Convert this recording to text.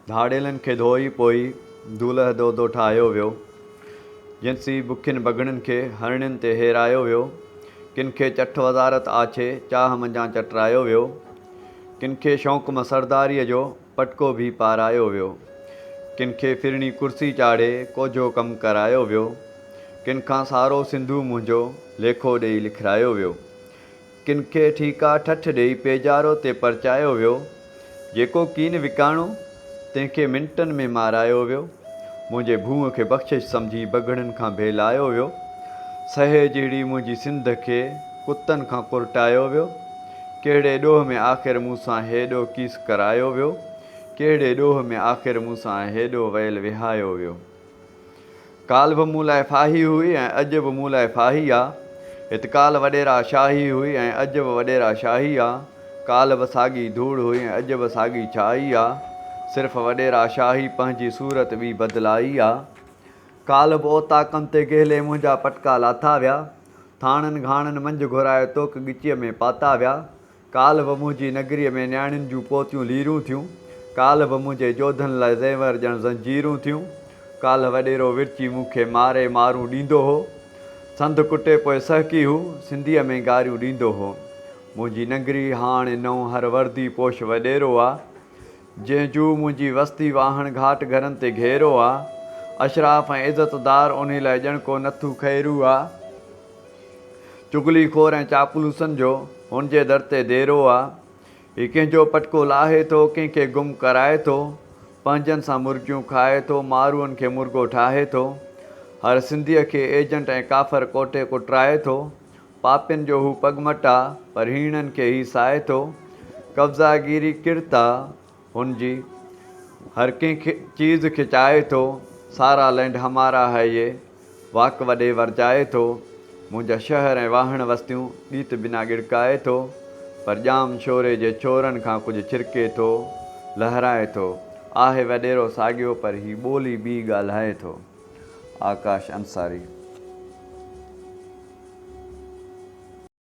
ڌاڙيلن کي ڌوئي پوئي دولهه دودو ٺاهيو ويو. جنسي بکين بگهڙن کي هرڻين تي هيرايو ويو. ڪن کي چٺ وزارت آڇي چاهه منجهان چٽرايو ويو. ڪن کي شوق مان سرداريء جو پٽڪو ڀي پارايو ويو. ڪن کي ڦرڻي ڪرسي چاڙهي ڪوجهو ڪم ڪرايو ويو. ڪن کان سارو سنڌو منهنجو ليکو ڏيئي لکرايو ويو. ڪن کي ٺيڪا ٺٺ ڏيئي پيڄارو تي پرچايو ويو. جيڪو ڪين وڪاڻو، تنهن کي منٽن ۾ مارايو ويو. منهنجي ڀونء کي بخشش سمجهي بگهڙن کان ڀيلايو ويو. سهي جهڙي منهنجي سنڌ کي ڪتن کان ڪرٽايو ويو. ڪهڙي ڏوهه ۾ آخر مون سان هيڏو ڪيس ڪرايو ويو. ڪهڙي ڏوهه ۾ آخر مون سان هيڏو ويل وهايو ويو. ڪالهه به مون لاء ڦاهي هئي ۽ اڄ به مون لاء ڦاهي آ. هت ڪالهه وڏيرا شاهي هئي ۽ اڄ به وڏيرا شاهي آ. ڪالهه به ساڳي ڌوڙ هئي ۽ اڄ به ساڳي ڇائي آ. صرف وڏيرا شاهي پنهنجي صورت ٻي بدلائي آ. ڪالهه به اوطاقن تي گهلي منهنجا پٽڪا لاٿا ويا. ٿاڻن گهاڻن منجهه گهرائي توڪ ڳچيء ۾ پاتا ويا. ڪالهه به منهنجي نگريء ۾ نياڻين جون پوتيون ليرون ٿيون، ڪالهه به منهنجي جوڌن لاء زيور ڄڻ زنجيرون ٿيون، ڪالهه وڏيرو ورچي مون کي ماري مارون ڏيندو هو، سنڌ ڪٽي پوء سهڪي هو، سنڌيء ۾ گاريون ڏيندو هو. منهنجي نگري هاڻ نئون هر وردي پوش وڏيرو آ، جنهن جو منهنجي وستي واهڻ گهاٽ گهرن تي گهيرو آ، اشراف ۽ عزتدار انهي لاء ڄڻ ڪو نٿو خيرو آ. چغلي خور ۽ چاپلوسن جو هن جي در تي ديرو آ. هي ڪنهن جو پٽڪو لاهي ٿو، ڪنهن کي گم ڪرائي ٿو، پنهنجن سان مرگيون کائي ٿو، ماروئن کي مرگو ٺاهي ٿو. هر سنڌيء کي ايجنٽ ۽ ڪافر ڪوٺي ڪٽرائي ٿو. پاپين جو هو پڳمٽ آ، پر هيڻن کي هي سائي ٿو. قبضا گيري ڪرتا هن جي هر ڪنهن کي چيز کي چاهي ٿو سارا لينڊ همارا هي يي واڪ وڏي ورجائي ٿو منهنجا شهر ۽ واهڻ وستيون ڏيت بنا ڳڙڪائي ٿو پر ڄام شوري جي ڇورن کان ڪجهه ڇرڪي ٿو لهرائي ٿو آهي وڏيرو ساڳيو پر هي ٻولي ٻي ڳالهائي ٿو آڪاش انصاري.